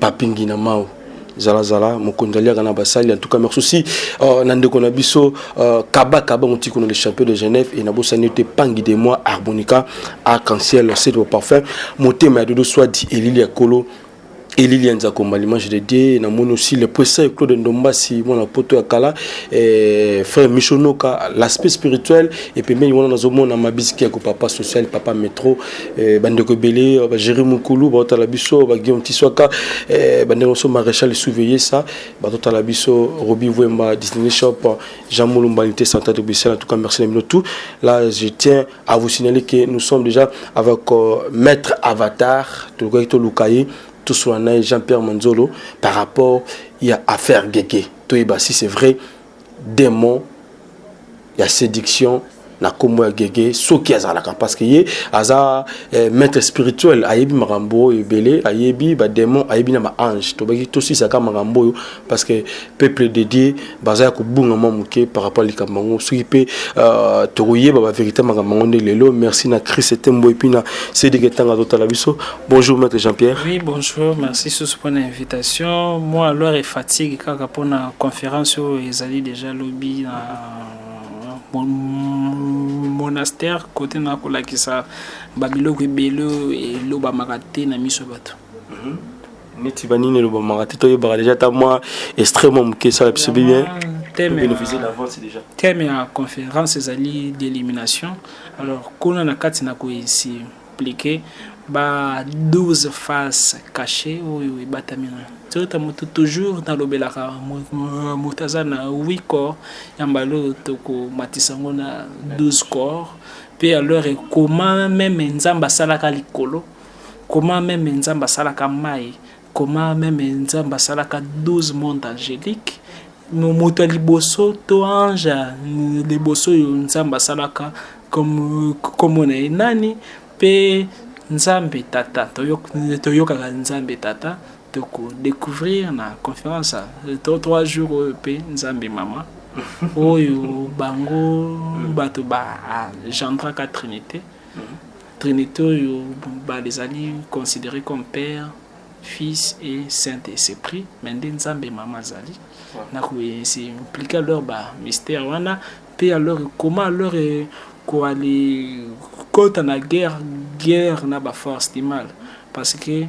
Papi Ngina Mao zala zala mokonzi aliaka na basali en tout cas merci aussi euh, na ndeko na biso euh, kaba kaba motiko na le champion de Genève et na bosani te pangi de moi harmonica arc-en-ciel c'est le parfum motema ya dodo soit dit elili ya kolo elili ya nzakomba l'image de dieu namoni aussi le presa claude ndombasi mwana poto ya kala eh, frère michonoka l'aspect spirituel epembeni wana nazomona mabisiki ya kopapa social papa metro Eh, bandeko ebele euh, bagere mokulu baotala biso baguillaume tiswaka eh, bandeko mosusu maréchal souveille sa batotala biso robi wemba disney shop jean molumba unité central de bruxelles en tout cas merci na bino tout là je tiens à vous signaler que nous sommes déjà avec euh, maître avatar tolukaki toluka ye toswana na ye jean pierre manzolo par rapport ya affaire gege toyeba si c'est vrai demon ya séduction na kombo ya gege soki azalaka parce que ye aza eh, maître spirituel ayebi makambo oyo ebele ayebi bademon ayebi na baange tobaki tosisaka makambo oyo parce que peuple de dieu baza ya kobunga mwa moke par rapport likambo yango soki mpe uh, tokoyeba baverité makambo yango nde lelo merci na christ etembo epuis na sedike ntanga totala biso Bonjour Maître Jean-Pierre. Oui, bonjour. Merci sous pour l'invitation. Moi, alors, et fatigue kaka pour la conférence où oh, ils allaient déjà lobby dans monastère côté na kolakisa babiloko ebele elobamaka te na miso bato mhm. neti banini elobamaka te toyebaka déjà ata mwa extrêmement moke esala biso bien thème ya conférence ezali d'élimination alors kuna na kati na koyesi appliquer ba 12 faces cachées oyo ebatami na toyota moto toujours nalobelaka moto aza na 8 corps ya mbala oyo tokomatisa yango na 12 corps mpe alors ekoma meme nzambe asalaka likolo koma meme nzambe asalaka mai Comment meme nzambe asalaka 12 monde angelique moto ya liboso to ange liboso oyo nzambe asalaka komona ye nani mpe nzambe tata toyokaka nzambe tata tokodecouvrir na conférence to trois jours oyo mpe nzambe mama oyo bango bato bagendraka trinité Trinite oyo mobali ezali considere comme père fils et saint esprit mais nde nzambe mama azali na koyesi implike alors ba mystère wana mpe alors comment alors eh, koali kota na guerre guerre na ba force du mal parce que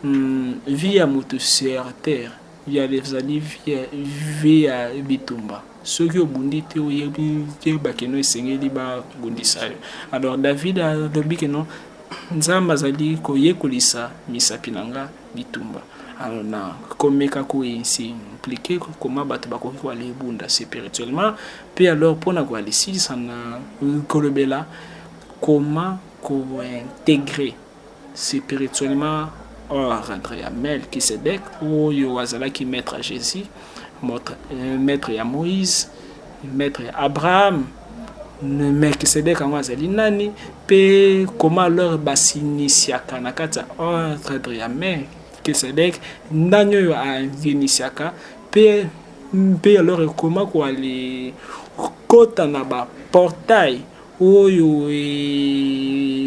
mm, vie ya moto sur terre ya ezali vie ya bitumba soki obundi te oyebi te bakeno esengeli babundisa yo alors david alobi keno nzambe azali koyekolisa misapi na nga bitumba alors na komeka koyinsi implike koma bato bakoki koala ebunda spirituellement mpe alors mpona koalisilisa na kolobela koma kointegre Spirituellement, hors entre ya Melchisedec, oyo azalaki maître ya Jésus, euh, maître ya Moïse, maître ya Abraham, Melchisedec yango azali nani, pe comment leur basinisiaka na kati ya ordre ya Melchisedec, nani oyo alinisiaka pe mpe alors ekoma koali kota na ba portail oyo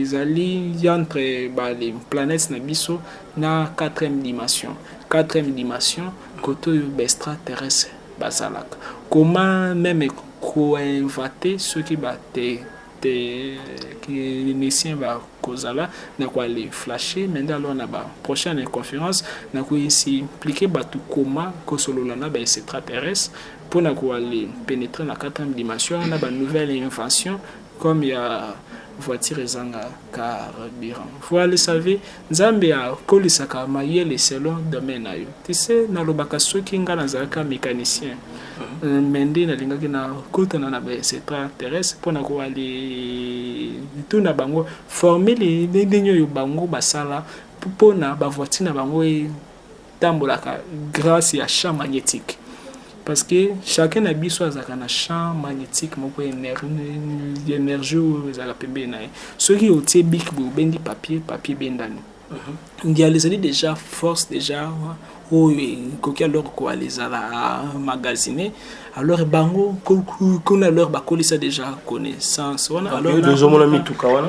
ezali entre ba planètes na biso na quatrième dimension quatrième dimension kote oyo baextra terrestre bazalaka koma meme koinvate soki bate technicien bakozala na koale flashe me nde alor na ba prochaine conférence na koexplike bato koma kosolola na ba extraterrestre pona ko aller penetrer na quatrième dimension na ba nouvelle invention comme ya voiture ezanga carburant voi le savez nzambe akolisaka mayele selon domaine na yo tise nalobaka soki ngai nazalaka mécanicien euh, me nde nalingaki nakutana na baextra terrestre mpo na kowali tuna bango formule ndenge oyo bango basala mpo na bavoiture na bango e tambolaka grâce ya champ magnétique parce que chacun na biso azalaka na champ magnétique moko énergie oyo ezalaka pembeni na ye soki otie bik boye obendi papier papier ebendani mhm. ndiala ezali déjà force déjà oyo ekoki alors koala ezala magasine alors bango kuna alors bakolisa déjà connaissance wana ah, alors ezomona mituka wana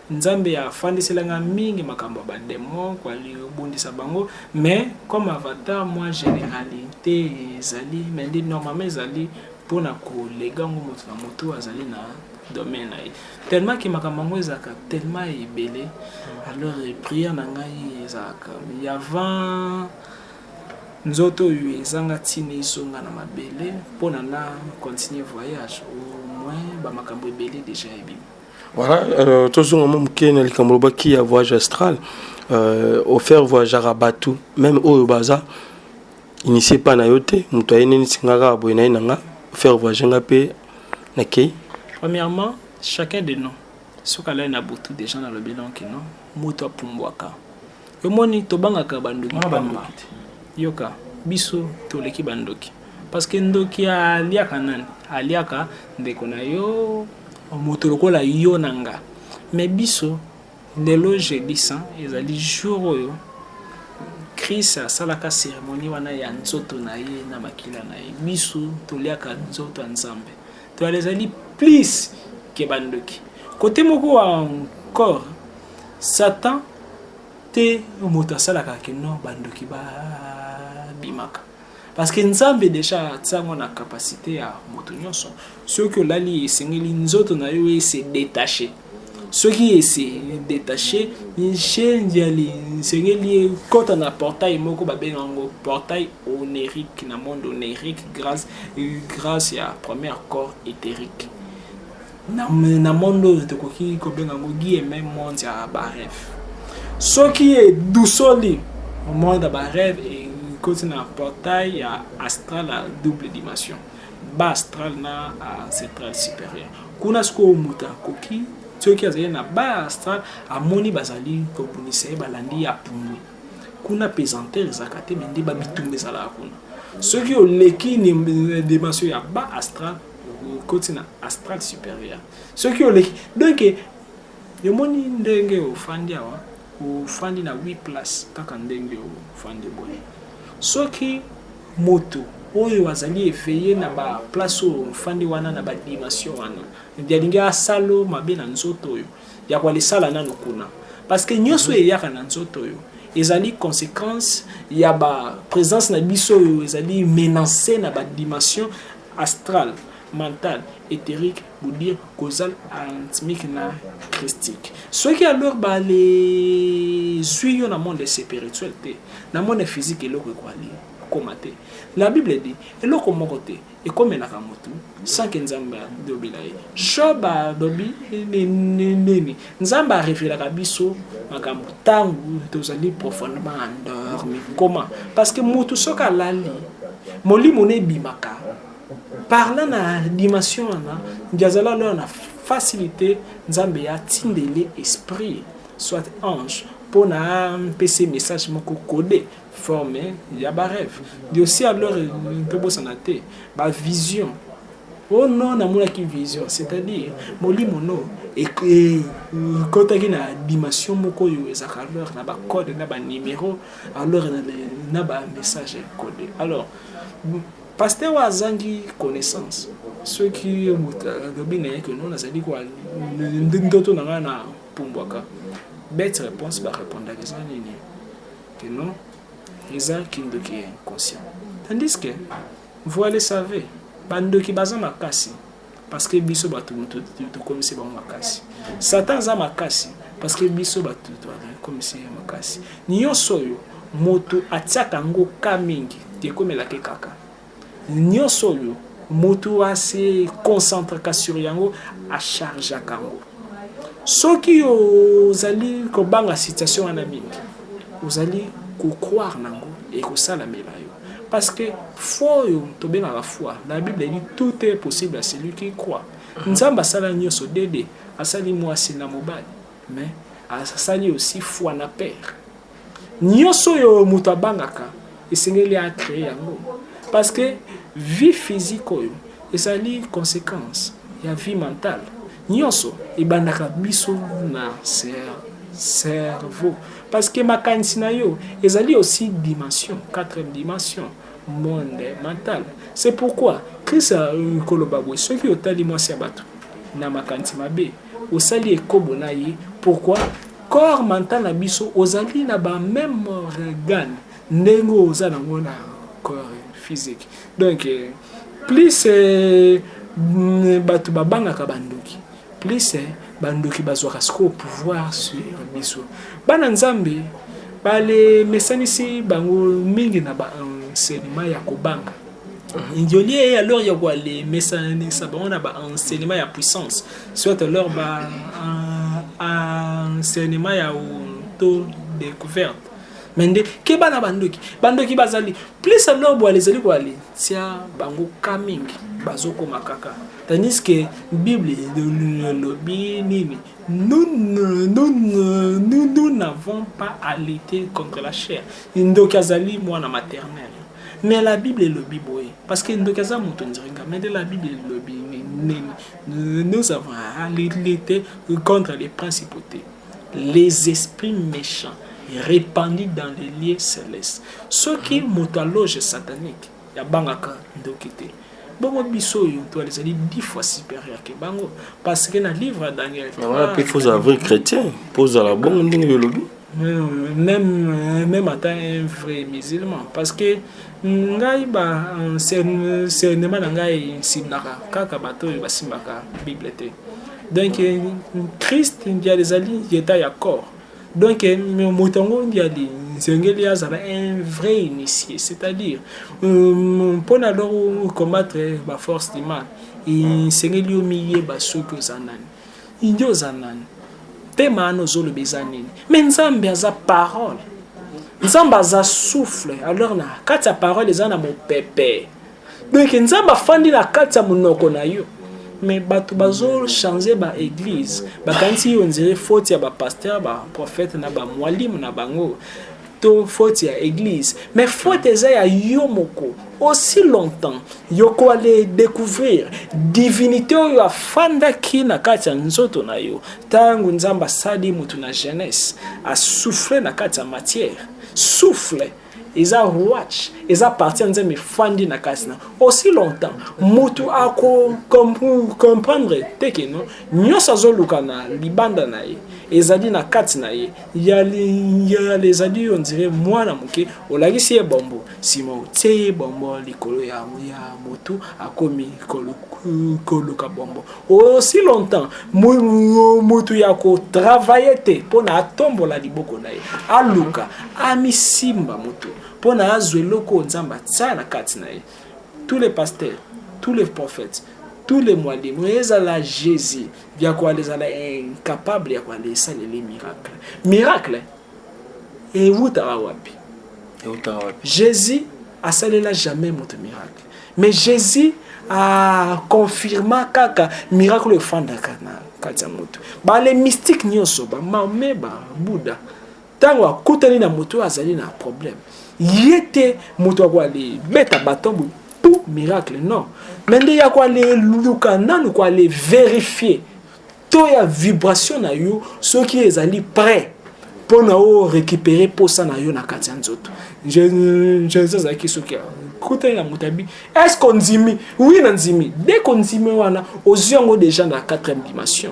Nzambe a fandisela nga mingi makambo ya ba demon ko bundisa bango mais comme avatar moi generalite ezali mais nde normalement ezali pona ko lega ngo moto na moto azali na domaine na ye tellement ke makambo yango ezalaka tellement ebele alors prière na ngai ezalaka ya avant nzoto oyo ezanga ntina ezonga na mabele mpona na continuer voyage au moins bamakambo ebele deja ebimi Voilà, euh, tozonga mwa moke na likambo lobaki ya voyage astral euh, offert voyageaka bato meme oyo baza initie epai na yo te moto aye nenisi nga kaka boye na ye na nga offert voyage nga mpe nakei premièrement chacun de nous soki alali na butu déjà nalobi lonki no moto apumbwaka Omoni tobangaka bandoki pamba. Yoka biso toleki bandoki. Parce que ndoki aliaka nani? Aliaka ndeko na yo moto lokola yo na nga. Mais biso lelo jeudi saint ezali jour oyo Chris asalaka cérémonie wana ya nzoto na ye na makila na ye. Biso toliaka nzoto ya Nzambe. To ezali plus ke bandoki. Kote moko encore Satan te moto asalaka ke non bandoki babimaka parce que nzambe deja atiango na capacité ya moto nyonso soki olali esengeli nzoto na yo ese detache soki ese detache njenjali esengeli ekota na portail moko babenga yango portail onerique na monde onerique grâce, grâce ya première corps éthérique na, na monde oyo tokoki kobenga yango guillemets monde ya bareve soki edusoli monde ya bareve ekoti na portail ya astral ya double dimension ba astral na central supérieur kuna sikoyo moto akoki soki azali na ba astral amoni bazali kobundisa ye balandi ya pumbwe kuna pesantere ezalaka te me nde babitumba ezalaka kuna soki oleki dimension ya ba astral okoti na astral supérieur soki oleki donc yomoni ndenge ofandi awa ofandi na 8 place kaka ndenge ofandi boye soki moto oyo azali eveille na ba place oyo ofandi wana na badimension wana yalingi asalo mabe na nzoto oyo ya kwalisala nano kuna parce que nyonso oyo eyaka na nzoto oyo ezali conséquence ya ba présence na biso oyo ezali menance na badimension Astral, mental, etherique, budir, causal, anthmique na christique. Soki alors ba les zui yo na monde spirituel te, na monde physique eloko ekwali koma te. La Bible dit eloko moko te ekomelaka motu sans que Nzambe alobela ye. Job alobi nini? Nzambe a revelaka biso makambo ntango tozali profondement endormi comment parce que moto soki alali molimo na ebimaka parla na dimension wana ndiazala loya na facilité nzambe ya tindele esprit soit ange mpo na mpese message moko kode forme ya ba rêve ndio aussi alors tobosana te ba vision oh non namonaki vision c'est-à-dire molimo no ekotaki na dimension moko oyo ezalaka alors na bacode na banimero alors na bamessage code alors paster oyo azangi connaissance soki moto alobi na ye ke no nazali ndoto na ngai na pumbwaka bete réponse barépondaka eza nini que non eza kindoki ya inconscient tandis que voi le savez bandoki baza makasi parce que biso bato tokomisi bango makasi satan aza makasi parce que biso bato tokomisi ye makasi nyonso oyo moto atiaka yango ka mingi ekomelaki kaka Nionso oyo mutu a se concentraka sur yango a chargeaka yango. Soki ozali kobanga situation wana mingi, ozali ko croire na yango ekosalamela yo. Parce que foi oyo tobengaka foi, na Bible elobi tout est possible à celui qui croit. Mhm. Nzambe asala nionso dede, asali mwasi na mobali, mais asali aussi foi na père. Nioso oyo mutu abangaka esengeli a cree yango parce que vie physique oyo ezali consequence ya vie mentale. Nioso ebandaka biso na cerveau parce que makanisi na yo ezali aussi dimension, quatrième dimension, monde mental. C'est pourquoi Christ koloba boye soki otali mwasi ya bato na makanisi mabe osali ekobo na ye pourquoi Corps mental na biso ozali na ba meme organe ndenge oza nango na corps physique donc eh, plus eh, mm, bato babangaka bandoki plus eh, bandoki bazwaka sikoyo pouvoir sur biso bana nzambe balemesanisi bango mingi na baenseignement ya kobanga ndiolie ye alors ya koale mesananisa bango na baenseignement ya puissance soit alors ba enseignement ya to découverte mais nde keba na bandoki bandoki bazali plus alors boale ezali koale tia bango ka mingi bazokoma kaka tandis que bible elobi nini nous n'avons pas à lutter contre la chair ndoki azali mwana maternel Mais la Bible elobi boye parce que ndoki aza moto ndiringa mais la Bible elobi nini nous avons à lutter contre les principautés les esprits méchants répandus dans les lieux célestes soki moto aloge satanique yabangaka ndoki te bongo biso oyo to ezali dix fois supérieur ke bango parce que na livre ya daniel wana mpe faut ozala vrai chrétien mpo ozala bongo ndenge yolobi même même ata un vrai musulman parce que ngai ba enseignement na ngai esimbaka kaka bato oyo basimbaka bible te donc christ ndial ezali yeta ya corps Donc, eh, Motongo Ndiali, Nzengeli Azala, un vrai initié. C'est-à-dire, euh, pour nous combattre eh, la force du mal, Nzengeli Omiye Basuki Ozanan. Indi Ozanan. Tema Ano Zolo Bezanin. Mais Nzambe Aza parole. Nzambe Aza souffle. Alors, na, quand ta parole est en mon pépé. donc nzambe afandi na kati ya monoko na yo mais bato bazochange baeglise bakanisi yo nzire faute ya bapaster baprofete na bamwalimu na bango to faute ya eglise mais faute eza ya yo moko aussi longtemps yoko ale découvrir divinité oyo afandaki na kati ya nzoto na yo ntango nzambe asali moto na jeunesse asouffle na kati ya matière souffle eza watch eza parti ya nzambe efandi na kasi na aussi longtemps motu akokomprendre te ke no nyonso azoluka na libanda na ye ezali na kati na ye yale ezali yo ndire mwana moke olakisi ye bombo nsima otie ye bombo likolo ya motu akomi koluka bombo aussi longtemps mutu ya kotravaille te mpo na atombola liboko na ye aluka amisimba moto mpo na azwa eloko oyo nzambe atia na kati na ye tous les pasteurs tous les prophètes tous les mwalimu ezala jésus ya koala ezala incapable ya koala esaleli miracle miracle ewutaka wapi jésus asalela jamais moto miracle mais jésus a confirma kaka miracle oyo efandaka na kati ya moto bale mystique nyonso bamame babuda ntango akutani na moto oyo azali na problème ye te moto akoale beta baton boye pu miracle non me nde ya koale luka nanu koale verifie to ya vibration na yo soki ezali prêt mpo na o récupérer mposa na yo na kati ya nzoto jesus azalaki soki kutani na moto abi est ce qu'on dimi oui na ndimi dès qu'on dimi wana ozwi yango déjà na quatrième dimension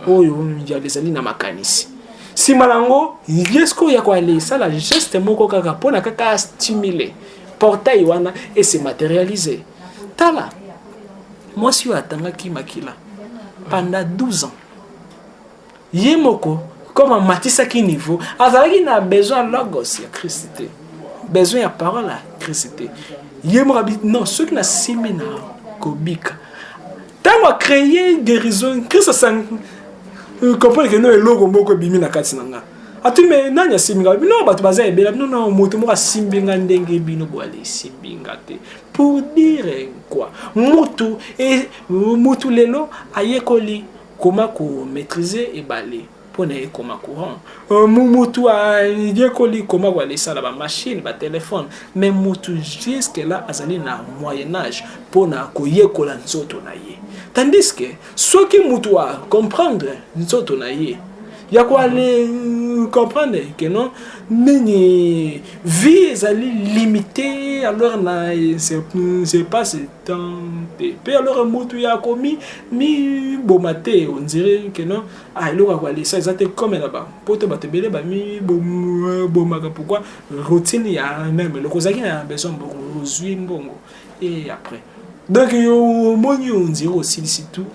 oyo yalo ezali na makanisi nsima na yango ye sikoyo ya koale esala geste moko kaka mpo na kaka astimule portail wana ese materialise tala mwasi oyo atangaki makila panda 12 ans ye moko comme amatisaki niveau azalaki na besoin ya logos ya kristi te besoin ya parole ya kristi te ye moko abi non soki nasimbi na kobika ntango acreye guérison kristo asang euh, comprendre ke no eloko moko ebimi na kati na nga ati me nani asimbi nga bino bato baza ebela bino na moto moko asimbi nga ndenge bino boali esimbi nga te pour dire quoi mutu e, mutu lelo ayekoli koma ko maîtriser ebale mpo na ye koma courant euh, mutu ayekoli koma koalesala bamashine batelefone mais mutu jusque là azali na moyen âge mpo na koyekola nzoto na ye tandis que soki mutu acomprendre nzoto na ye ya koale comprendre que non nini vie ezali limité alors na se passe temps te mpe alors mutu ya komi miboma te on dirait que non ah eloko ya koalesa eza te comme na ba poto bato ebele bamibomaka pourquoi routine ya meme eloko ozalaki na besoin mbongo ozwi mbongo et après donc omoni ondire osilisi tout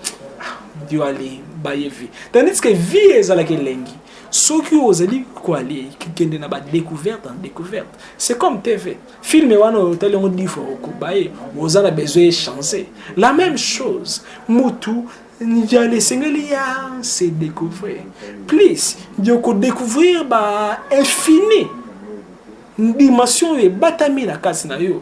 yo ah, ale baye vie tandis que vie ezalaka elengi soki ozali koale kende na badécouverte en découverte c'est comme tv film wana oyo otali yango difo okoba ye oza na besoin echange la même chose mutu njala esengeli ya se découvrir plus yo kodécouvrir ba infini dimension oyo ebatami na kati na yo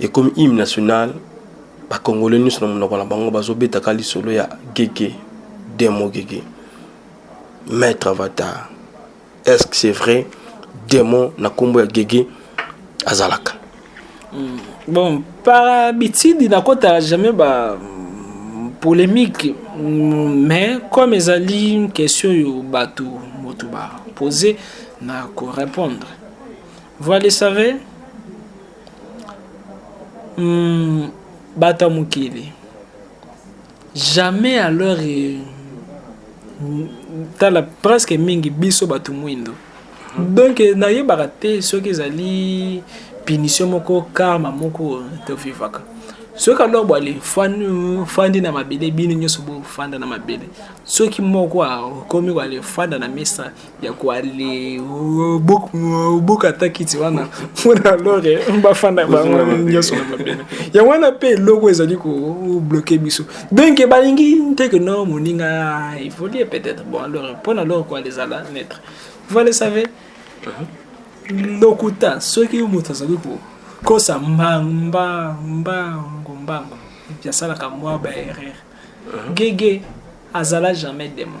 ekomi hymne national bakongole nyonso na monoko na bango bazobetaka lisolo ya gege demo gege maître avatar est ce que c'est vrai demo na nkombo ya gege azalaka hmm. bon par habitude nakotala jamais ba hmm, polémique hmm, mais comme ezali question oyo bato moto bapose na korépondre vous le savez Hum, bato ya mokili jamais alors eh, tala presque mingi biso bato mwindo donc eh, nayebaka te soki ezali punition moko karma moko tofivaka soki alors bwale fandi na mabele bino nyonso bofanda na mabele soki moko akomi bwale fanda na mesa ya koale oboka ata kiti wana mpona lore bafanda bango nyonso na mabele yango wana mpe eloko ezali kobloke biso donk balingi nteke no moninga evolie peut-être bon lore mpona lore koale ezala netre vous le savez uh-huh. lokuta soki moto azali kokosa mbangombango mbango yasalaka mwa baerreur uh-huh. gege azala jamais demon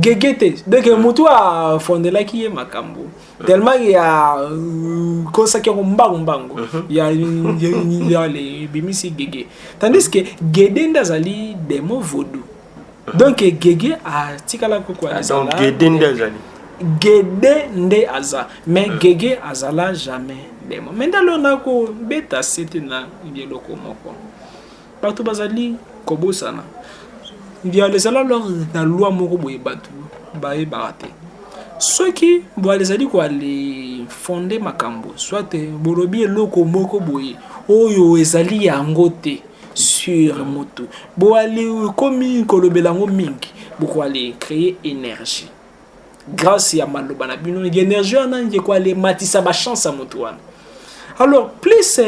gege te donc motu afondelaki ye makambo tellement ya kosaki yango mbangu mbangu ya ebimisi gege tandis que gede nde azali demo vodou donc gege atikala koko gede nde azali gede nde aza mais gege azala jamais demo mais ndalo nakobeta sete na eloko moko Bato bazali kobosana Mbialezala lor na lwa moko boye bato bayebaka te soki Mbiala ezali koale fonde makambo soit bolobi eloko moko boye oyo ezali yango te sur motu boali ekomi kolobela yango mingi bokoale créer énergie grâce ya maloba na bino energie wana ekoale matisa bachance ya motu wana alors plus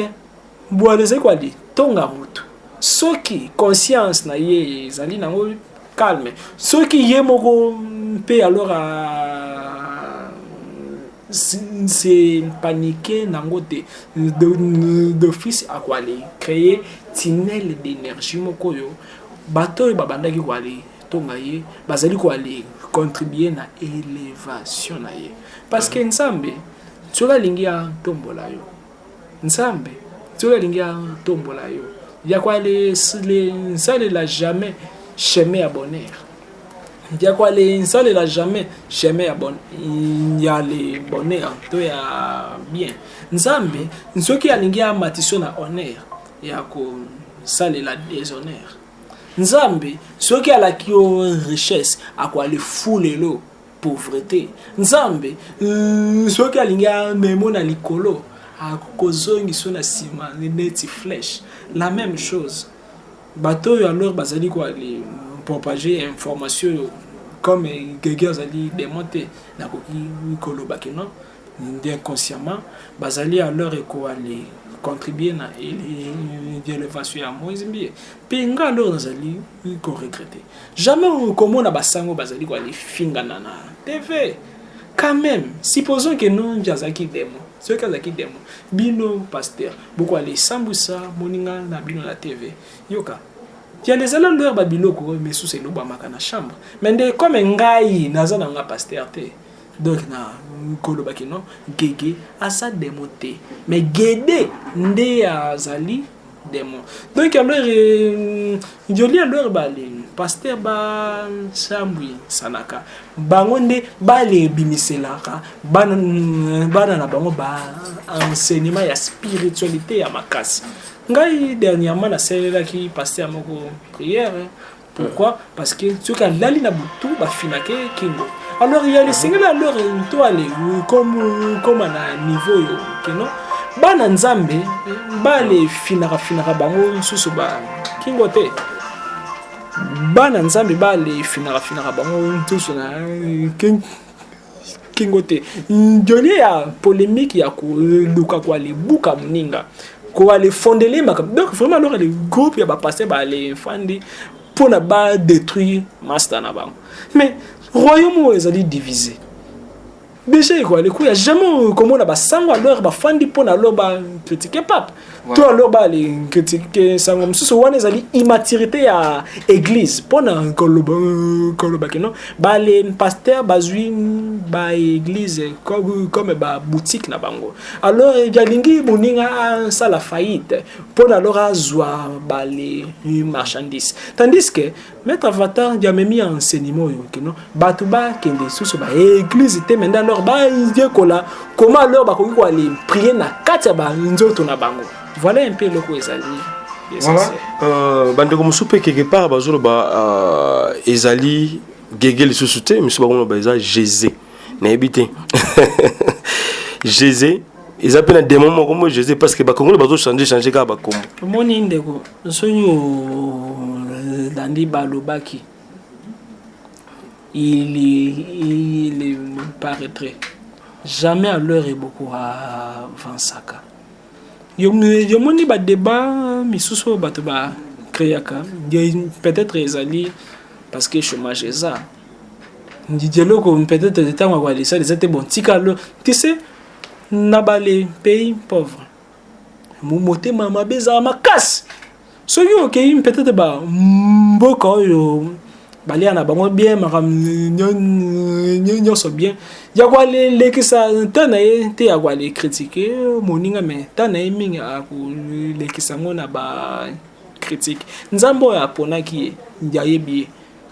Mbwa ezali kwa litonga moto soki conscience na ye ezali nango calme soki ye moko mpe alors se paniquer nango te d'office akoale créer tunnel d'énergie moko oyo bato oyo babandaki koale tonga ye bazali koale contribuer na élévation na ye parce que nzambe soki alingi atombola yo nzambe soki alingi atombola yo yako nsalela jamais chemin ya bonheur yako nsalela jamais chemin ya bon, ya le bonheur to ya bien nzambe soki alingi amatiso na honneur ya kosalela déshonneur nzambe soki alaki yo richesse akoalefulelo pauvrete nzambe euh, soki alingi amemo na likolo akozongiso na nsima neti flèche la même chose bato oyo alors bazali kopropage information oyo comme gege azali demon te nakoki koloba kino inconsciemment bazali alors ekoale contribuer na elevation ya moise mbiye mpe nga alors nazali koregrete jamais okomona basango bazali koale fingana na tv quand même supposons que nongi azalaki demo soki azalaki demo bino paster bokoale esambusa moninga na bino na tv yoka yala ezala loyer babiloko oyo misusu elobamaka na chambre mais nde comme ngai naza na nga paster te Donc na koloba que non Guegue aza demon te mais Guede nde azali demon. Donc alors euh, Jolie alors bale pasteur ba Sambui Sanaka bango nde bale bimiselaka bana bana na bango ba enseignement ya spiritualité ya makasi. Ngai dernièrement nasalelaki pasteur moko prière Pourquoi Parce que soki alali na butu bafinake kingo. Alors il y a les singles alors to ale comme comme na niveau yo kino bana nzambe bale finaka finaka bango nsusu ba kingo te bana nzambe bale finaka finaka bango nsusu na kingo te njolie ya polemique ya koluka kwa libuka moninga kowa lefondele makambo donc vraiment loka le groupe ya bapaste balefandi mpo na badétruire masta na bango mais royaume oyo ezali divise deja ekoya lekuya jamais komona basango alor bafandi mpo na lo bakritike pape to alors ba les critiquer sango mosusu wana ezali immaturité ya église pona koloba koloba kino ba les pasteur bazui ba église comme comme ba boutique na bango alors yalingi moninga asala faillite pona alors azwa ba les marchandises tandis que Maître Avatar ndio amemi ya enseignement oyo kino bato bakende lisusu ba eglise te mende alors bayekola koma alors bakoki koale prier na kati ya banzoto na bango voilà un peu eloko ezali voilà. euh, bandeko mosusu mpe quelque part bazoloba euh, ezali gege lisusu te misu bakoloba eza jesus nayebi te jese eza mpe na demo moko mo jese parce que bakongole bazochange change kaka bakombo omoni ndeko soki olandi balobaki il, il, il paraîtrait jamais à l'heure eboko avansaka yomoni badeba misusu oyo bato bacreaka peut-être ezali parce que chômage eza Didier Loko peut-être ntango akoya lisali eza te bon tika lo tu sais na bale pays pauvre motema mabe ezala makasi soki okei peut-être ba mboka oyo balia na bango bien makambo nyonso bien ya kolekisa ntan na ye te ya koale kritike moninga me ntan na ye mingi akolekisa yango na bakritike nzambe oyo aponaki ye ayebi ye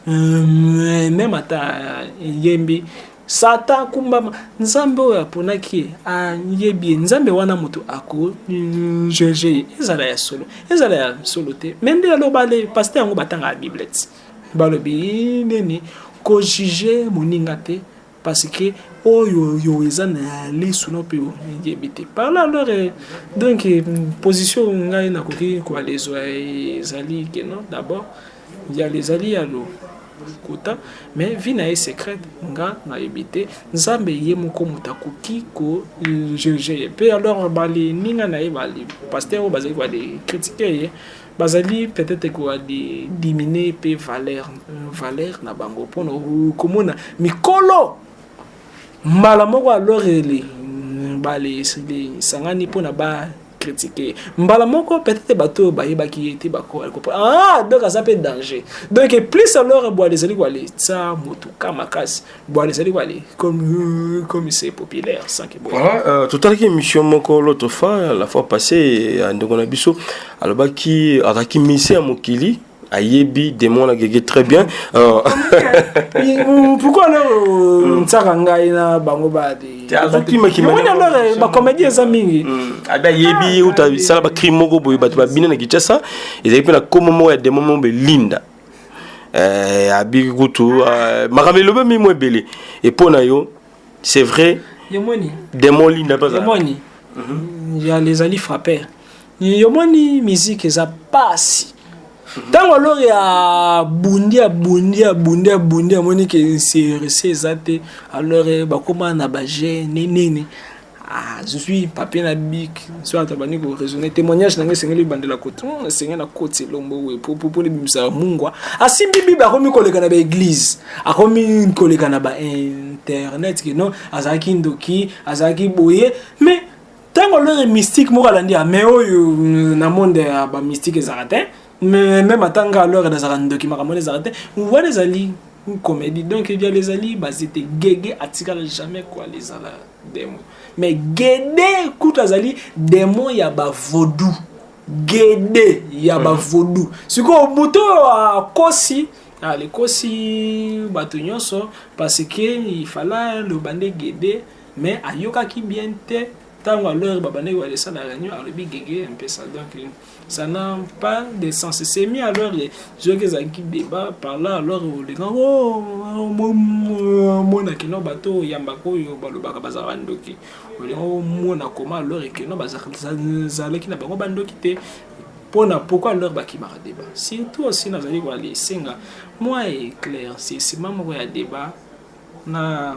Hum, meme ata eyembi sata akumbama nzambe oyo aponaki ye ayebi ye nzambe wana moto akojuge ye ezala ya solo ezala ya solo te me nde aloba le paster yango batangaka biblete balobi nini kojuge moninga te parce que oyo yo eza na lisu no mpe oyebi te par là alors eh, donc eh, position ngai nakoki koala ezwa eh, ezali keno d'abord yalo ezali yalo kota mais vie na ye secrète nga nayebi te nzambe ye moko moto akoki kojuge ye mpe alors balininga na ye bali paster oyo bazali koya de kritike ye bazali peut-être ko diminuer pe valeur euh, valeur na bango pona komona mikolo mbala moko alors ele mm, bale sangani pona ba critiquer mbala moko peut-être bato oyo bayebaki ye te bakokopa ah donc aza mpe danger donc plus alors bwale ezali koaletisa motuka makasi Bon, ezali wali comme euh, comme c'est populaire sans que bon. Voilà, euh, totalaki émission moko l'autre fois la fois passée à ndeko na biso alobaki azalaki mise ya mokili ayebi démon na gege très bien euh, pourquoi na euh, nsaka ngai na bango bacomédie eza mingi mm. abi ah, ayebi uta sala bacrime moko boye bato babina na kinshasa ezali mpe na komo moko ya démon moko belinda eh, abiki kutu eh, makambo elobami mwa ebele epo na yo c'est vrai yomoni demon linda mpe azala yomoni yale ezali frapper yomoni miziki eza pasi ntango alori abundi abundi abundi abundi amoni ke serese eza te alore bakoma na bagene nini ah, zwi papier na bik so ata bandi koraisonne témoignage na ngai esengeli ebandela kote hmm, esengeli na koti elombo oyo popopona ebimisaka mungwa asimbi ah, bible akomi koleka na baeglise akomi ah, koleka na bainternet kino azalaki ndoki azalaki boye mais ntango olore mystique moko alandi ya mais oyo hmm, na monde ya bamystique ezalaka te mais meme ata nga alore nazalaka ndoki makambo wana ezalaka te wana ezali comédie donc ebiala ezali bazete gege atikala jamais koala ezala demon mais gede kutu azali demon ya ba vaudou gede ya ba mhm. vaudou sikoyo moto oyo akosi alikosi ah, bato nyonso parce que ifala loba nde gede mais ayokaki bien te ntango alor babandaki balesala réunion alobi gege mpesa donc ça n'a pas de sens c'est mis alors soki ezalaki débat par là alors olinga omona kino bato oyambaka oyo balobaka bazala bandoki olinga omona koma alors ekino bazalaki na bango bandoki te mpona pourquoi alors bakimaka débat surtout osi nazali koya esenga moi eclaircissement moko ya débat na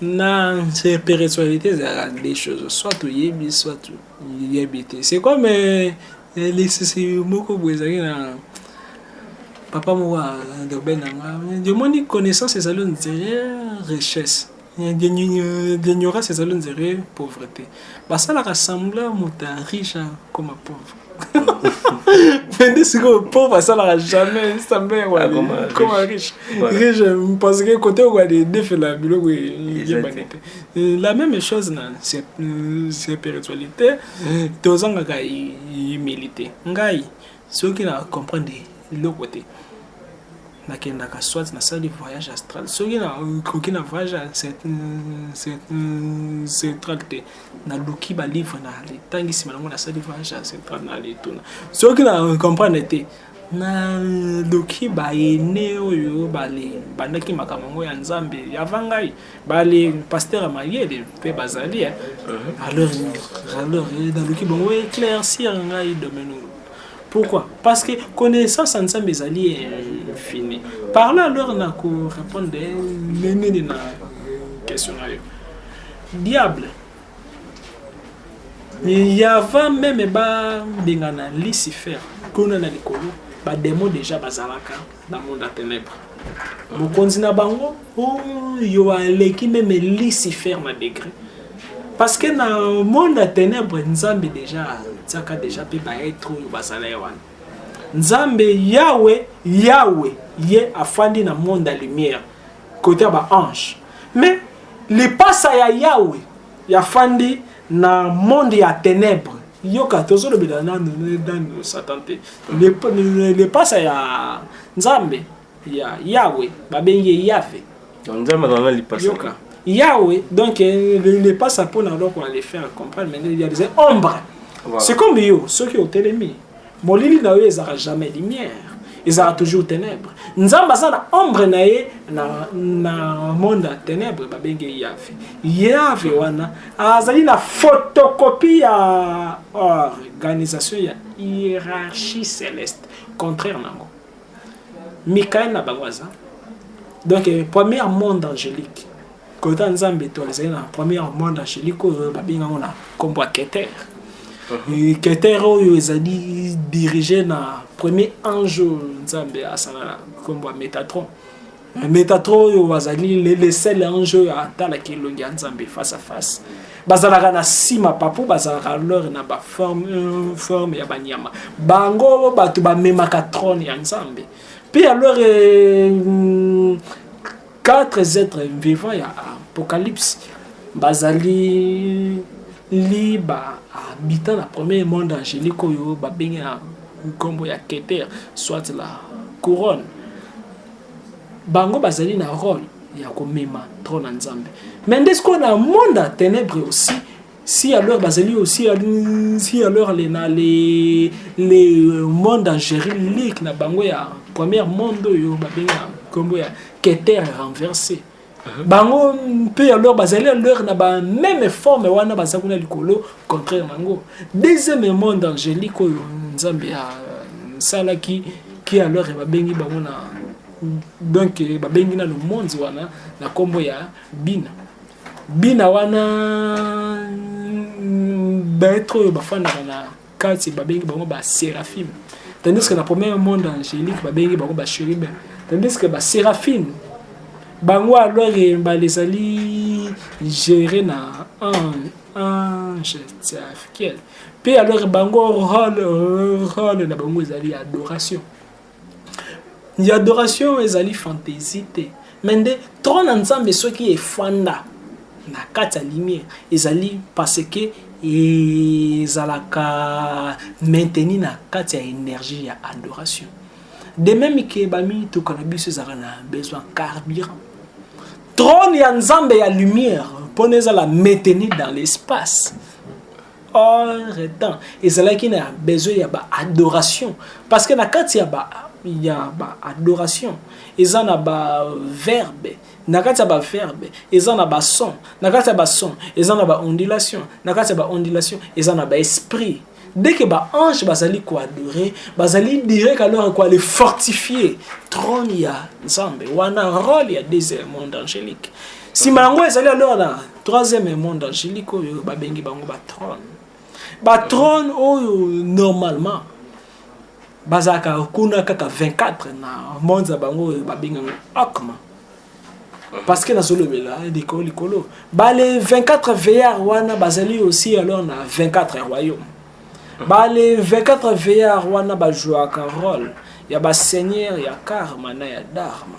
na spiritualité ezalaka deux choses soit toyebi soit toyebi te c'est comme euh, euh, lisisi moko boye ezalaki na papa moko adobe na nga omoni connaissance ezali ondire richesse l'ignorance ezali ondire pauvreté basalaka sembla moto ya riche akoma pauvre Mende sikoyo pauvre asalaka jamais sambele koma riche riche parce que kote okoka de defela biloko eyebani te la même chose na spiritualité tozangaka humilité ngai soki na comprendre eloko te nakendaka soit nasali voyage astral soki nakoki na voyage astral te naluki balivre na litangi nsima nango nasali vage ancestral na letuna soki na comprendre te naluki baene oyo bale bandaki makambo yango ya nzambe yava ngai bale paster ya mayele mpe bazali eh. uh-huh. alors alors eh, naluki bango éclaircir ngai domaine oyo pourquoi parce que connaissance ya nzambe ezali infini parle alors na korépondre eh, nini na question na yo Diable. Il y avait même ba bengana Lucifer, kuna na likolo, ba démon déjà bazalaka na monde ya ténèbres. Mokonzi na bango oyo oh, aleki meme Lucifer na degré. Parce que na monde ya ténèbres Nzambe déjà atiaka déjà mpe ba être oyo bazala ye wana. Nzambe Yahweh, Yahweh ye afandi na monde ya lumière. kote ya ba ange mais lipasa ya yawe ya fandi na monde ya tenebre yoka tozolobela nanu nanu satan te lipasa ya nzambe ya yawe babengi ye yave nzambe azala na lipasa yoka yawe donc eh, lipasa mpona eloko na le faire comprendre mais ya ombre c'est comme yo soki otelemi Molili na yo ezalaka jamais lumière. Ezalaka toujours ténèbres. Nzambe aza na ombre na ye na, na monde ya ténèbres babenge Yahve. Yahve wana azali na photocopie ya organisation ya hiérarchie céleste. Contraire nango. Michael na bango aza. Donc, eh, premier monde angélique. Kota Nzambe to ezali na premier monde angelique oyo babenga ngo na kombo ya Keter. Uh-huh. Keter oyo ezali dirige na premier ange Nzambe asala na kombo ya Metatron. Metatron oyo azali le seul ange oyo atalaki elongi ya Nzambe face à face. bazalaka na nsima papo bazalaka lore na baforme euh, forme ya banyama bango bato bamemaka trone ya nzambe mpe alors euh, Quatre êtres vivants ya Apocalypse bazali li ba habitants na premier monde angélique oyo babengi na nkombo ya Keter soit la couronne. Bango bazali na role ya komema trona Nzambe. Mais nde sikoyo na monde ya tenebre aussi Si alors bazali aussi si alors les na les les euh, monde angérique na bango ya première monde oyo babenga kombo ya keter renversé uh-huh. bango mpe alors bazali alors na ba même forme wana baza kuna likolo contraire nango deuxième monde angélique oyo nzambe asalaki euh, ki alors babengi bango na donc babengi na le monde wana na kombo ya bina bina wana baetre oyo bafandaka na kati babengi bango ba seraphime tandis que na premier monde angélique babengi bango ba chérubin tandis que ba seraphime bango alors mbala ezali géré na ange tiafiel mpe alors bango role role na bango ezali adoration Ya adoration ezali fantaisie te mais nde trone ya nzambe soki efanda na kati ya lumière ezali parce que ezalaka maintenu na kati ya énergie ya adoration de même que bamituka na biso ezalaka na besoin carburant trone ya nzambe ya lumière mpona ezala maintenu dans l'espace temps ezalaki na besoin ya ba adoration parce que na kati ya ba ya ba adoration eza na ba verbe na kati ya ba verbe eza na ba son na kati ya ba son eza na ba ondulation na kati ya ba ondulation eza na ba esprit dès que ba ange bazali koadore bazali direct alors koale fortifie trône ya nzambe wana role ya deuxième monde angélique nsima yango ezali alors na troisième monde angélique oyo babengi bango batrone batrone oyo normalement bazalaka kuna kaka 24 na monde ya bango oyo babengango akma parce que nazolobela likolo likolo bale 24 veillard wana bazali aussi alors na 24 royaume bale 24 veillard wana bajouaka role ya baseigneur ya karma na ya dharma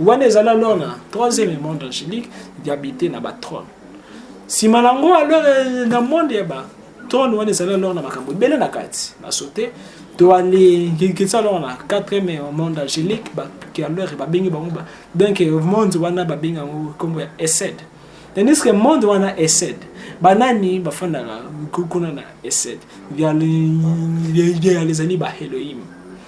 wana ezali alors na troisième monde angélique diabite na batrone nsima na yango alors euh, na monde ya ba trone wana ezali alors na makambo ebele na kati basote toalingikisa alors na quatrième euh, monde angélique alors babengi bango ba donc euh, monde wana babengi yango nkombo ya esed tandis que monde wana esed banani bafandaka kuna na esed yale ezali baheloime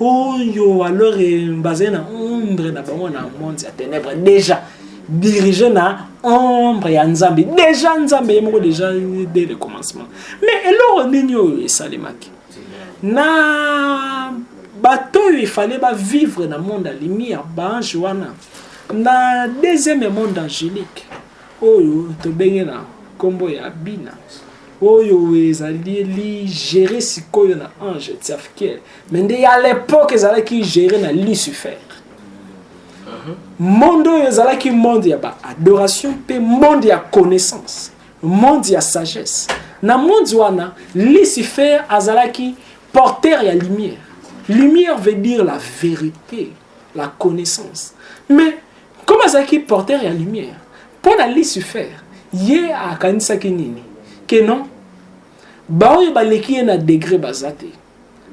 oyo alors eh, bazali na ombre na bango na monde ya ténèbre déjà dirige na ombre ya nzambe déjà nzambe ye moko déjà dès le commencement mais eloko nini oyo esalemaki na bato oyo efale bavivre na monde ya lumière baange wana na deuxième monde angélique oyo tobenge na nkombo ya bina oyo ezali ligere sikoyo na ange tiafkiel mais nde ya l'époque ezalaki géré na lucifer monde oyo ezalaki monde ya baadoration mpe monde ya connaissance monde ya sagesse na monde wana lucifer azalaki porteur ya lumière lumière veut dire la vérité la connaissance mais comme azalaki porteur ya lumière mpo na lucifer ye akanisaki nini ke non baoyo baleki ye na degre baza te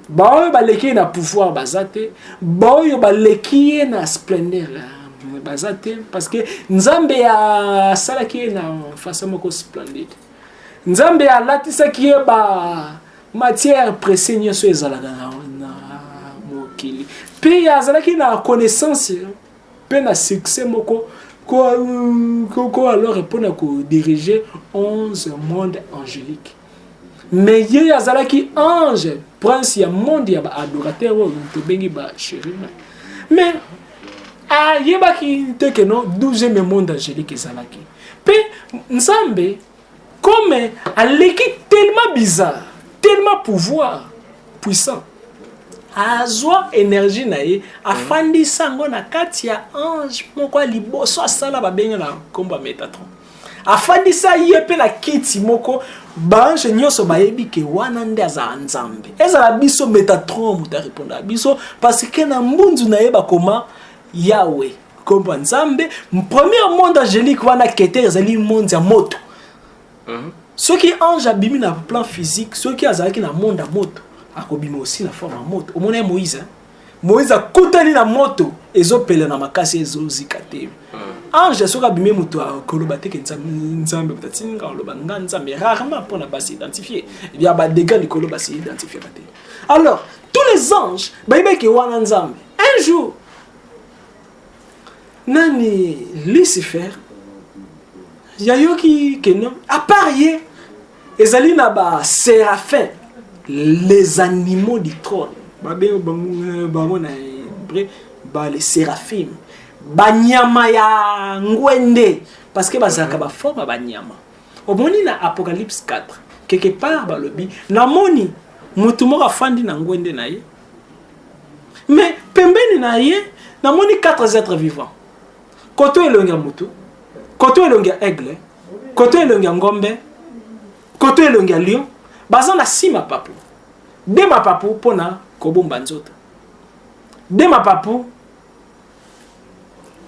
baoyo baleki ye na pouvoir baza te baoyo baleki ye na splendeur euh, baza te parce que nzambe asalaki ye na façon moko splendide nzambe alatisaki ye ba matière pressé nyonso ezalaka na, na mokili mpe azalaki na connaissance mpe na succès moko ko, ko, ko alors mpo na kodirige 11 monde angélique mais ye azalaki ange prince ya monde ya baadorateur oyo tobengi bachérubin mais ayebaki te ke no 12e monde angélique ezalaki mpe nzambe comme aleki tellement bizarre tellement pouvoir puissant azwa énergie na ye afandisa yango na kati ya ange moko ya liboso asala babengana nkombo ya metatron afandisa ye mpe na kiti moko baange nyonso bayebi ke wana nde azala nzambe ezala biso metatron moto arepondaka biso parce que na mbunzu na ye bakoma yawe nkombo ya nzambe premier monde angélique wana keter ezali monde ya moto mhm. soki ange abimi na plan physique soki azalaki na monde ya moto akobima aussi na forme ya moto omona ye moïse hein? moïse akutani na moto ezopela na makasi ezozika te hmm. ange soki abimi moto akoloba teke nzambe moto atindi nga oloba nga nzambe rarement mpona basi identifie ya badega likolo basi identifiaka te alors tous les anges bayebaki wana nzambe un jour nani lucifer yayoki keno apart ye ezali na ba séraphin les animaux du trône babengi bango bango na hébreu ba les séraphim banyama ya ngwende parce que bazalaka baforme ya banyama omoni na apocalypse 4 quelque part balobi namoni motu moko afandi na ngwende na ye mais pembeni na ye namoni 4 êtres vivants koto elongi ya motu koto elongi ya aigle koto elongi ya ngombe koto elongi ya lion baza na si mapapu de mapapu mpo na kobomba nzoto de mapapu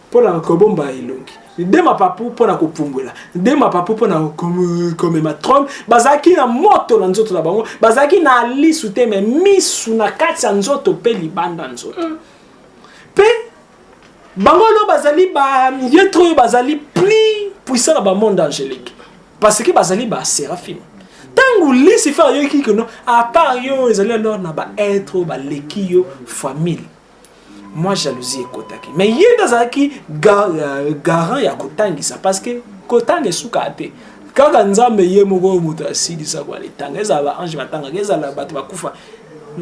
mpo na kobomba elongi de mapapu mpo na kopumbwela de mapapu mpo na komema trone bazalaki na moto na nzoto na bango bazalaki na lisu te me misu na kati ya nzoto mpe libanda nzoto mpe mm. bango lelo bazali bamietre oyo bazali plus puissant na bamonde angélique parce que bazali baseraphime ntango lucifer ayoki keno apart yo ezali alors na baetre oyo baleki yo famille mwa jalousie ekotaki mais ye nde azalaki euh, garant ya kotangisa parce que kotanga esukaa te kaka nzambe ye moko oyo moto asilisa kwa litanga ezala baange batangaka ezala bato bakufa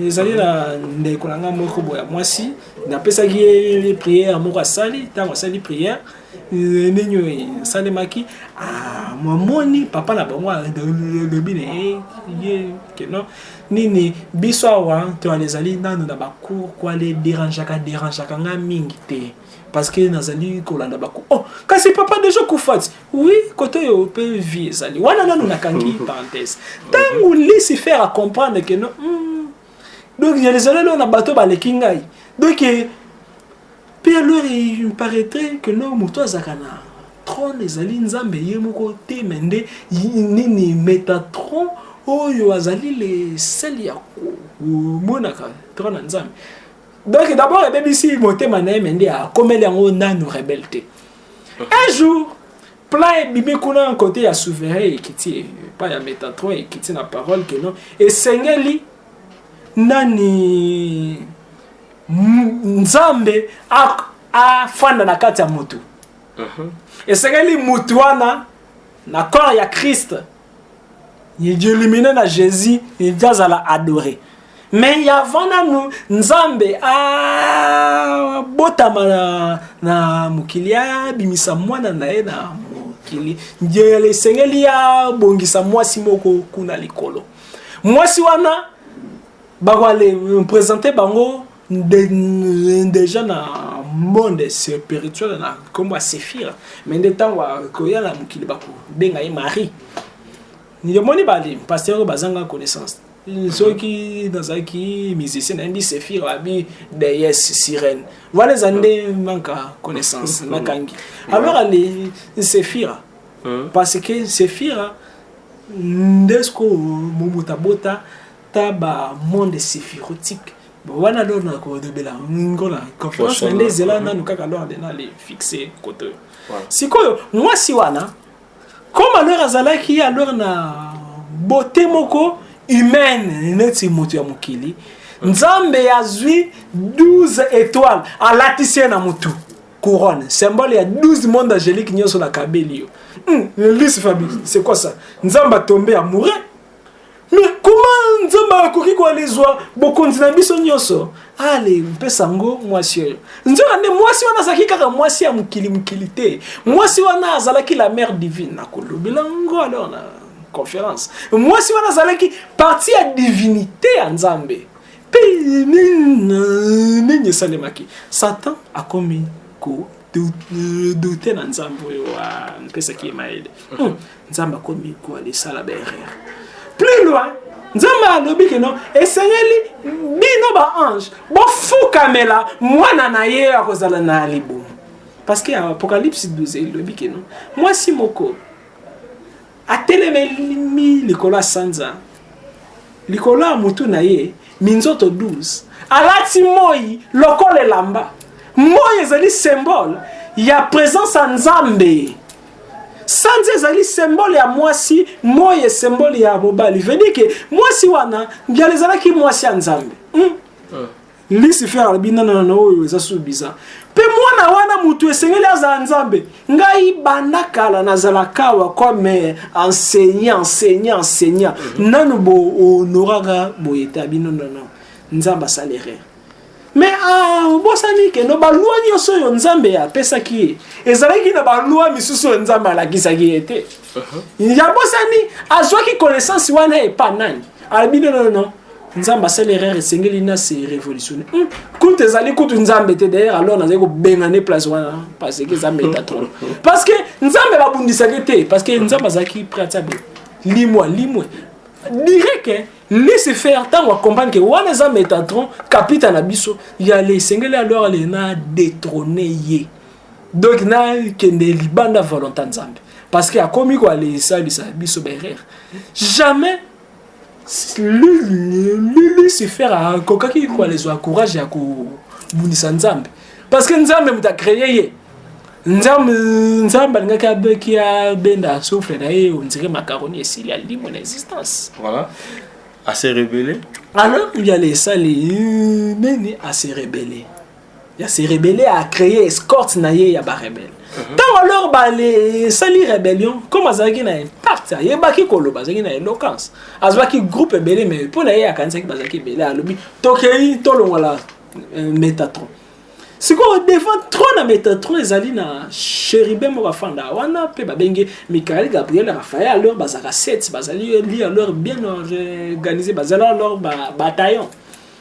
ezali na ndeko na ngai moko boya mwasi napesaki ye priere moko asali ntango asali priere eh, ndenge oyo esalemaki ah, mamoni papa na bango alobi na ye ye keno nini biso awa toana ezali nano na bacour kuale derangeaka derangeaka nga mingi te parce que nazali kolanda baku oh kasi papa deja kufati oui kote oyo mpe vie ezali wana nano nakangi parenthèse ntango lucifer acomprendre keno mm, donc ya lezala leo na bato baleki ngai donc eh, mpe alors il paraîtrait que leo moto azalaka na trone ezali nzambe ye moko te me nde nini metatron oyo azali lesele ya komonaka trone ya nzambe donc d'abord ebebisi motema na ye me nde akomeli yango nanu rebele te un jour plan ebimi kuna na kote ya souverain ekiti epa ya metatron ekiti na parole ke non esengeli nani nzambe afanda na kati ya motu mhm. esengeli motu wana na corps ya kriste Illuminé na Jésus, il doit la adorer. Mais avant nanu Nzambe a botama na, na mokili abimisa mwana na ye na mokili. Ndiele esengeli abongisa mwasi moko kuna likolo. Mwasi wana bakwale présenter bango deja na monde spirituel na nkombo ya sefira me nde ntango akoya na mokili bakobenga ye marie yomoni bali paster oyo bazanga connaissance soki nazalaki musicien nayebi sefir abi deyes sirene wana eza nde manka connaissance nakangi alors ale sefira parce que sefira nde sikoyo mobuta bota ta ba monde siphirotique bon wana lor na kolobela ngo na conférence na nde ezela nanu kaka lor de nale fixe koto sikoyo mwasi wana comme alors azalaki alors na beauté moko humaine neti moto ya mokili nzambe azwi 12 étoile alatisi ye na motu couronne symbole ya 12 monde angélique nyonso na kabeli yo hmm, lise fabi c'est quoi ça nzambe atombe amoureux me koma nzambe akoki koalizwa bokonzi na biso nyonso ale mpesa ngo mwasi oyo nzoka nde mwasi wana azalaki kaka mwasi ya mokili mokili te mwasi wana azalaki la mare divine nakolobela ngo alors na conférence mwasi wana azalaki parti ya divinité ya nzambe mpe nini esalemaki satan akomi ko doute na nzambe oyo apesaki ye mayele hmm, nzambe akomi kwala esala baerreur plus loin nzambe alobi kino esengeli bino baange bofukamela mwana na ye akozala na libumu parce que apocalypse 12 elobi kino mwasi moko atelemeli likolo ya sanza likolo ya motu na ye minzoto 12 alati moi lokola elamba moi ezali symbole ya presence ya nzambe sanza ezali symbole ya mwasi moi esymbole ya mobali vedike mwasi wana mbiala ezalaki mwasi ya nzambe hmm? Lucifer alobi na na oyo eza su biza mpe mwana wana motu esengeli azala nzambe ngai banda kala nazalaka awa comme enseignant enseignant enseignant mhm. nanu bohonoraka boye ta bino nono nzambe asala erreur me ah, obosani kendo balwa nyonso oyo nzambe apesaki ye ezalaki na balwa misusu oyo nzambe alakisaki ye te mhm. yabosani azwaki connaissance wana epa nani alobi nonono nzambe asali erreur esengeli na se révolutionne hmm. kutu ezali kutu nzambe te d'ailleurs alors nazali kobengane place wana parce que nzambe eta trop parce que nzambe babundisaki te parce que nzambe azalaki prêt atia be limwa limwe dirait que laisse faire ntango acomprendre ke wana eza metatron kapita na biso ya le esengeli alors le na détrone ye donc nakende libanda volonta nzambe parce que akomi koalesalisa biso baerreur jamais lucifer akokaki kwalezwa courage ya kobundisa nzambe parce que nzambe moto acreye ye nzambe nzambe alingaki abeki abenda souffle na ye ondire macaroni esili alimo na existence voilà ase rebele alors yale esali nini ase rebele ya se rebelle a créer escorte na ye ya ba rebelle ntango mhm. alors basali rébellion comme azalaki na impact ayebaki koloba azalaki na éloquence azwaki groupe ebele mais mpo na ye akanisaki bazalaki ebele alobi tokei tolongola euh, métatron sikoyo devant trop na métatron ezali na chéribin moko afanda wana mpe babengi michael gabriel raphael alors bazalaka 7 bazali li alors bien organisé bazali alors bataillon ba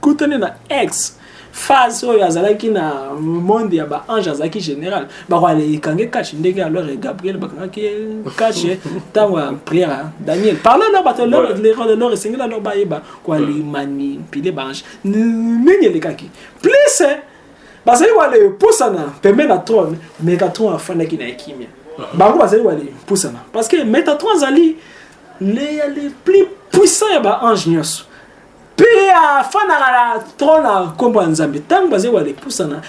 kutani na ex phase oyo azalaki na monde ya ba ange azalaki général bakwala ekange kache ndenge alors gabriel bakangaki kache ntango ya prière hein. daniel parle alors bato lor esengeli alors bayeba kwali manipule baange nini elekaki plus hein, bazali wana epusana pembeni na trone megatron afandaki na ekimia bango bazali wana epusana parce que metatron azali le plus puissant ya baange nyonso mpe afandaka na tro na nkombo ya nzambe ntango bazali walepusana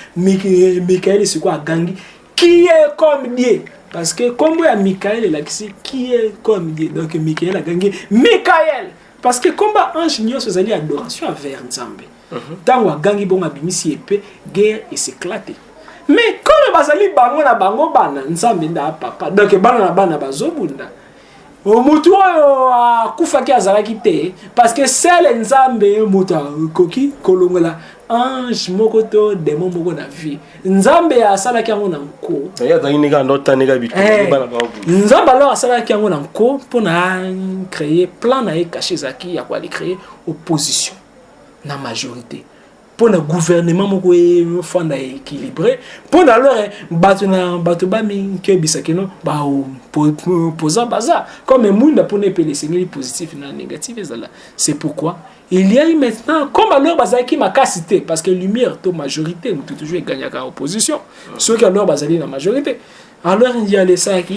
mikaele sikoyo agangi kie comme die parce que nkombo ya mikaele elakisi kie comme die donc mikaele agangi mikaele parce que nkombo ya ange nyonso ezali adoration envers nzambe ntango mhm. agangi bongo abimisi epe guerre eseklate mais comme bazali bango na bango bana nzambe nda papa donc bana na bana bazobunda motu oyo akufaki azalaki te parce que sele nzambe moto akoki kolongola ange moko to demo moko na vie nzambe asalaki yango na nko eh, nzambe alors asalaki yango na nko mpo na créer plan na ye kashe ezalaki ya koali créer opposition na majorité mpo na gouvernement moko efanda équilibré mpo na alors eh, bato na bato bamikebisa kino baopposant baza comme mwinda mpo na epele esengeli positif na négatif ezala c'est pourquoi il y a eu maintenant comme alors bazalaki makasi te parce que lumière to majorité moto toujours egagnaka opposition soki alors bazali na majorité alors yalesalaki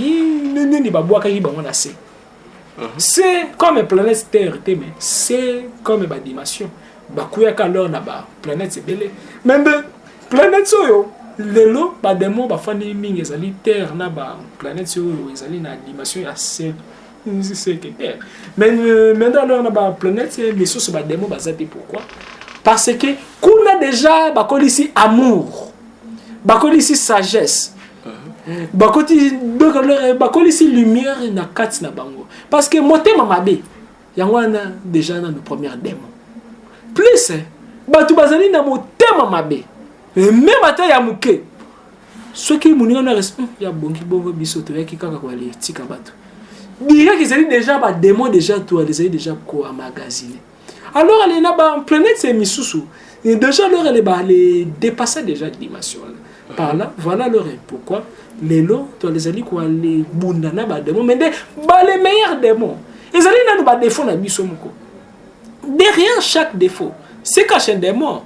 nini babwakaki bango na se se comme planète terre te me se comme badimension bakuyaka lor na baplanète ebele me nde planète oyo lelo bademo bafandi mingi ezali terre na baplanète oyo ezali na dimension ya se seke terre me nde alor na baplanète misusu bademo baza te pourquoi parce que kuna déjà bakolisi amour bakolisi sagesse bakoti donc bakolisi lumière na kati na bango parce que motema mabe yango wana déjà nanu première démon plus bato bazali na motema mabe meme ata ya moke soki moninga na res hmm, ya bongi bongo biso toyaki kaka koyali etika bato direct ezali déjà badémon déjà toyali ezali déjà koamagasine alors ale na ba planète misusu déjà alors ale ba ale dépassa déjà dimension par là voilà leur pourquoi lelo to lezali ko ale bunda na ba démons mais nde ba les meilleurs démons ezali nanu ba défaut na biso moko derrière chaque défaut se cache un démon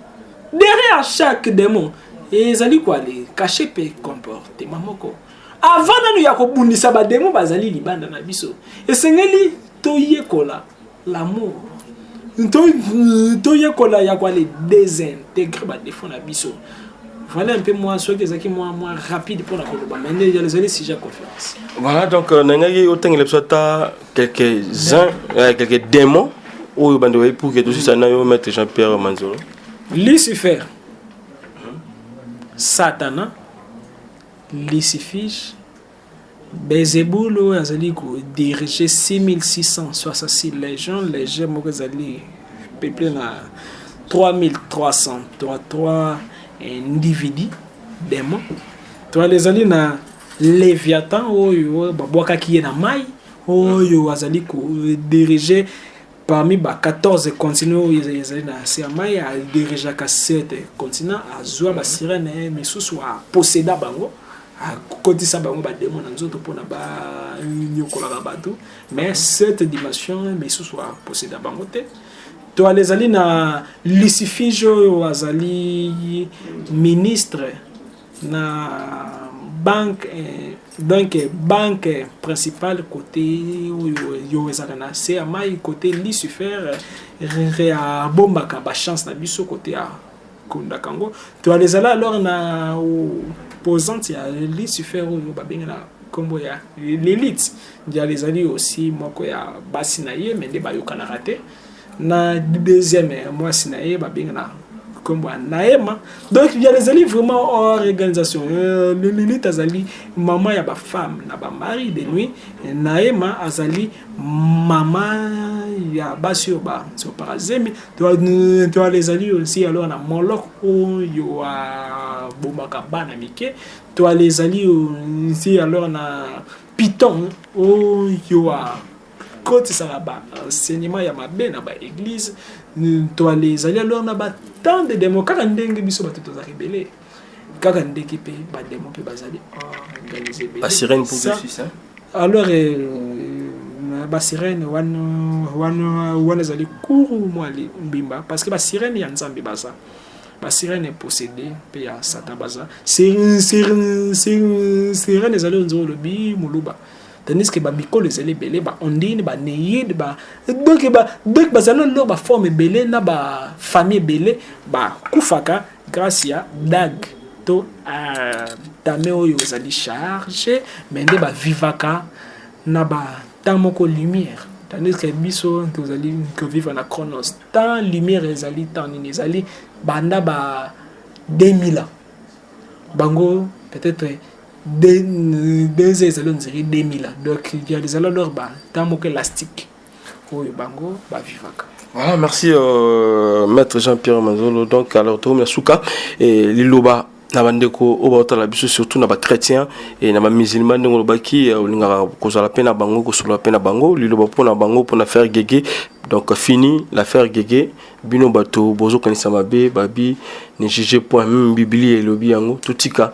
derrière chaque démon ezali ko ale cache pe comportement moko avant nanu ya kobundisa bademo bazali libanda na biso esengeli toyekola L'amour. Toyekola ya kwa le désintegrer ba défauts na biso. Voilà un peu moi soki ezaki moi moi rapide pour la koloba mais nde ezali sujet ya conférence. Voilà donc euh, nangaki otengela biso ata quelques uns euh, quelques démons oyo bande oyebi pour que tosisa na yo maître Jean Pierre Manzolo. Lucifer. Satana. Lucifiche. Beelzebul oyo azali ko diriger 6666 legion, legion moko ezali peuple na 3333 individus demon to ezali na leviathan oyo babwakaki ye na mai oyo azali ko diriger parmi ba 14 continent oyo ezali na nse ya mai adirigeaka 7 continent azwa basirene eh, misusu aposeda bango akotisa bango bademo na nzoto mpona banyokolaka bato mais 7 dimension misusu aposeda bango te to ala ezali na lucifige oyo azali ministre na banque eh, donc banque principale côté oyo ezalaka na se ya mai côté lucifer reabombaka bachance na biso côté ya kondaka yango toyala ezala alors na posante ya lucifer oyo babengi na nkombo ya lilite ndiala ezali osi moko ya basi na ye me nde bayokanaka te na deuxième ya mwasi na ye babenga na kombo ya naema donc ya ezali vraiment organisation euh, le lilite azali mama ya bafemme na bamari de nuit naema azali mama ya basi oyo basopaka zemi toale ezali osi alors na molok oyo abomaka bana mike toale ezali osi alors na piton oyo kotisaka ba enseignement ya mabe na ba église ntwale ezali alors na ba temps de demo kaka ndenge biso bato tozalaka ebele kaka ndenge mpe bademo mpe bazali organise alors basirene wana wana wana ezali kuru mwa mbimba parce que basirene ya nzambe baza basirene eposede mpe ya satan baza sirene ezali onzo olobi moluba tandis que bamikolo ezali ebele baondine baneide donc donc bazali lelo baforme ebele na bafamille ebele bakufaka grâce ya dag to euh, tame oyo ezali charge me nde bavivaka na batan moko lumière tandis que biso tozali kovivre na chronos temps lumière ezali temps nini ezali banda ba 2000 ans bango peut-être deux ans ezali ondiri 2000 ans donc ezali alors ba temps moko elastique oyo bango bavivaka Voilà, merci euh, maître Jean-Pierre Manzolo. Donc, alors, tout le monde, Souka, et Liloba, na bandeko oyo baotala biso surtout na bachrétien e na bamusulman ndenge olobaki euh, olingaka kozala mpe na bango kosolola mpe na bango liloba mpo na bango mpo na faire gege donc fini l'affaire gege bino bato bozokanisa mabe babi ne juge point meme biblia elobi yango totika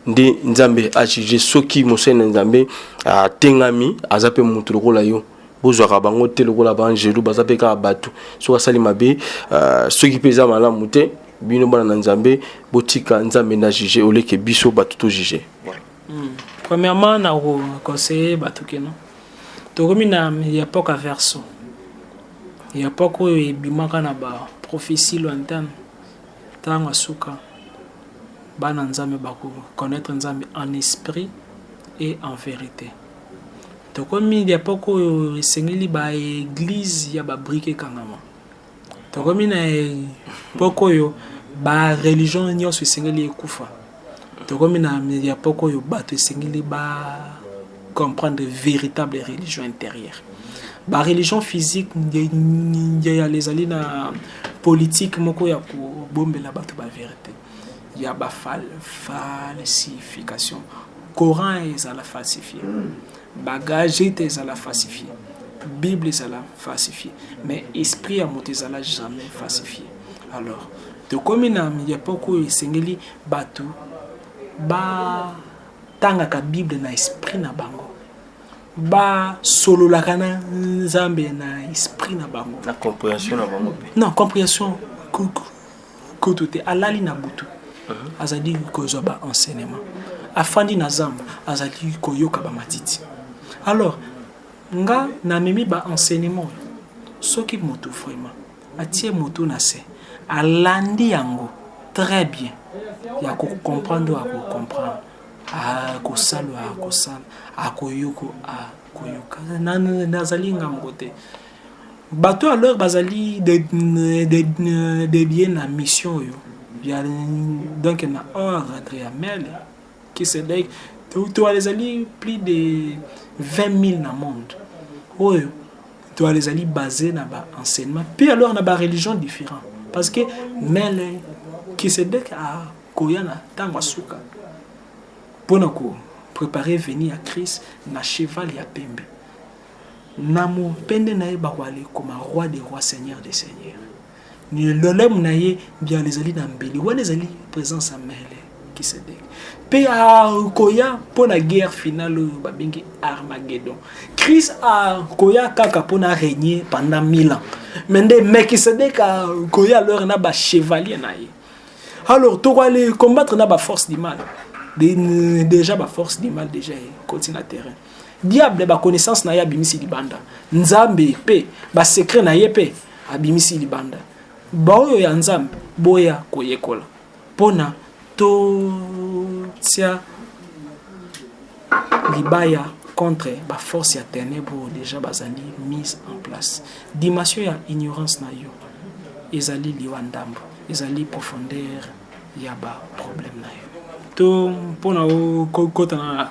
nde nzambe ajuge soki mosali na nzambe atengami aza mpe moto lokola yo bozwaka bango te lokola baangelu baza mpe kaka bato soki asali mabe uh, soki mpe eza malamu te bino bana na nzambe botika nzambe na juge oleke biso bato tojuge voilà. mm. premièrement na koconseille bato keno tokomi na ya poka verso Ya Paka oyo ebimaka na ba prophetie lointaine tango ya suka bana Nzambe bako connaître Nzambe en esprit et en verite. Tokomi ya Paka oyo esengeli ba eglise ya ba brique ekangama. Tokomi na Paka oyo ba religion nyonso esengeli ekufa. Tokomi na epoque oyo bato esengeli ba comprendre véritable religion intérieure. Ba religion physique ngeyala ezali na politique moko ya kobombela bato ba verité ya ba falsification. Coran ezala falsifie. Bagage te ezala falsifie, Bible ezala falsifie, mais esprit ya moto ezala jamais falsifie. Alors tokomi na epoque oyo esengeli bato batangaka Bible na esprit na bango basololaka na nzambe na esprit na bango na comprehension na bango mpe non comprehension kutu te alali na butu uh-huh. azali kozwa ba enseignement afandi na zamba azali koyoka ba matiti alors nga namemi ba enseignement soki moto vraiment atie moto na se alandi yango très bien ya kocomprendre oyo akocomprendre akosala oyo akosala akoyoko akoyoka nazali ngambo te Bato ya lor bazali debie na mission oyo ya donc na or entre ya mele kisedek toile ezali plus de 20000 na monde oyo toile ezali base na ba enseignement mpe alors na ba religion différent parce que mele kisedek akoya na ntango asuka mpo na ko préparer veni ya christ na cheval ya pembe Na mopende na ye bakoka lekoma Roi des rois, Seigneur des seigneurs. Lolemo na ye mbialo ezali na mbeli, wana ezali presence ya mele kisedeki mpe akoya mpo na guerre finale oyo babengi armagedon christ akoya kaka mpo na règne pendant 1000 ans me nde melkisedek akoya alors na bachevalier na ye alors tokoale combattre na baforce du mal déjà baforce du mal déjà ekoti na terrain Diable ba connaissance na ye abimisi libanda. Nzambe pe ba secret na ye pe abimisi libanda. Baoyo ya Nzambe boya koyekola pona totia libaya contre ba force ya ténèbres oyo déjà bazali mise en place. Dimension ya ignorance na yo ezali liwa ndambo, ezali profondeur ya ba problème na yo. To mpona okota na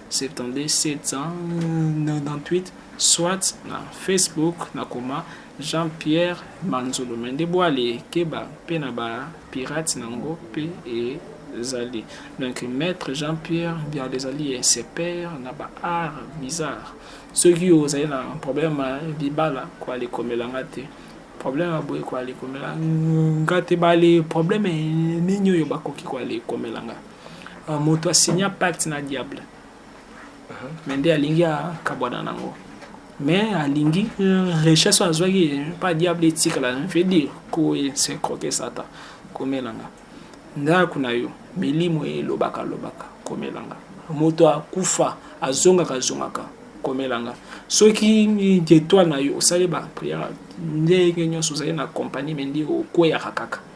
72 798 soit na facebook nakoma jean pierre manzolo me nde bwale ekeba mpe na ba pirate na yango mpe ezali donc maître jean pierre bialo ezali esepere na ba art bizarre soki ozali na problème ya libala koalekomela nga te problème ya boye koalekomela nga te bale problème nini oyo bakoki koalekomela nga Ah, moto asigna pacte na diable me nde alingi akabwana nango me alingi richesse oyo azwaki pa diable etikala veut dire koye se croke satan komelanga ndako na yo milimo ye elobaka lobaka komelanga moto akufa azongaka azongaka komelanga soki etoile na yo osali bapriere ndenge nyonso ozali na compagnie me nde okweyaka kaka